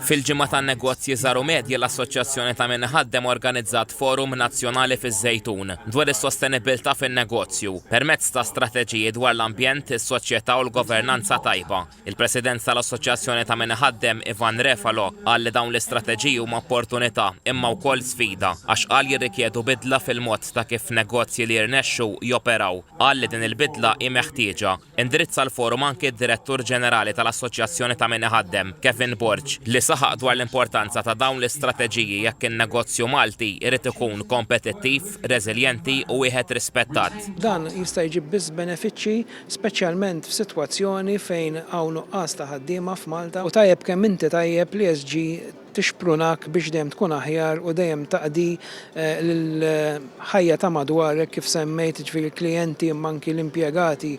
Fil-Ġimgħa tan-Negozji Żgħar u Medji l-Assoċjazzjoni ta' Min Iħaddem organizzat forum nazzjonali fiż-Żejtun dwar is-sostenibbiltà fin-negozju permezz ta' strateġiji dwar l-ambjent, is-soċjetà u l-governanza tajba. Il-President tal-Assoċjazzjoni ta' Min Iħaddem, Ivan Refalo, qal li dawn l-istrateġiji huma opportunità imma wkoll sfida għax qal jirrikjedu bidla fil-mod ta' kif negozji li jirnexxu joperaw. Qal li din il-bidla hi meħtieġa. Indirizza l-forum anki d-Direttur Ġenerali tal-Assoċjazzjoni ta' Min Iħaddem, Kevin Borg, li saħaq dwar l-importanza ta' dawn l-istrateġiji jekk in-negozju Malti jrid ikun kompetittiv, reżiljenti u wieħed rispettat. Dan jista' jġib biss benefiċċji, speċjalment f'sitwazzjoni fejn hawn nuqqas ta' ħaddiema f'Malta u tajjeb kemm inti tajjeb l-ESG tixprunak biex dejjem tkun aħjar u dejjem taqdi l-ħajja ta' madwarek kif semmejt, jiġifieri l-klijenti imma anki l-impjegati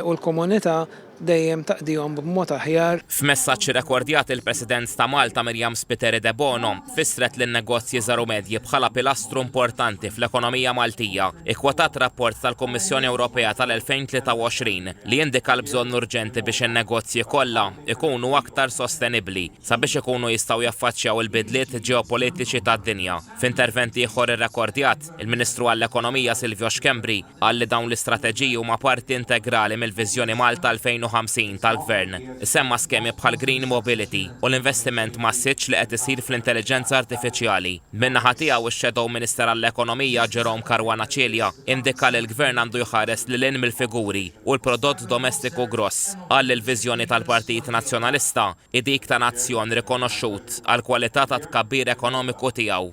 u l-komunità dejjem taqdihom b'mod aħjar. F'messaġġ irrekordjat il-President ta' Malta Miriam Spiteri Debono fissret lin-negozji żgħar u medji bħala pilastru importanti fl-ekonomija Maltija, ikkwotat rapport tal-Kummissjoni Ewropea tal-2023 li indika l-bżonn urġenti biex in-negozji kollha jkunu aktar sostenibbli. sabiex ikunu jistgħu jaffaċċjaw il-bidliet ġeopolitiċi tad-dinja. F'intervent ieħor irrekordjat, il-Ministru għall-Ekonomija Silvio Schembri qal li dawn l-istrateġiji huma parti integrali mill-Viżjoni Malta 2050 tal-Gvern. Issemma skemi bħall-Green Mobility u l-investiment massiċċ li qed isir fl-Intelliġenza Artifiċjali. Min-naħa tiegħu ix-Shadow Minister għall-Ekonomija Jerome Caruana Cilia indika li l-Gvern għandu jħares lil hinn mill-figuri u l-prodott domestiku gross. Qal li l-viżjoni tal-Partit Nazzjonalista hi dik ta' nazzjon rikonoxxut għall-kwalità tat-tkabbir ekonomiku tiegħu.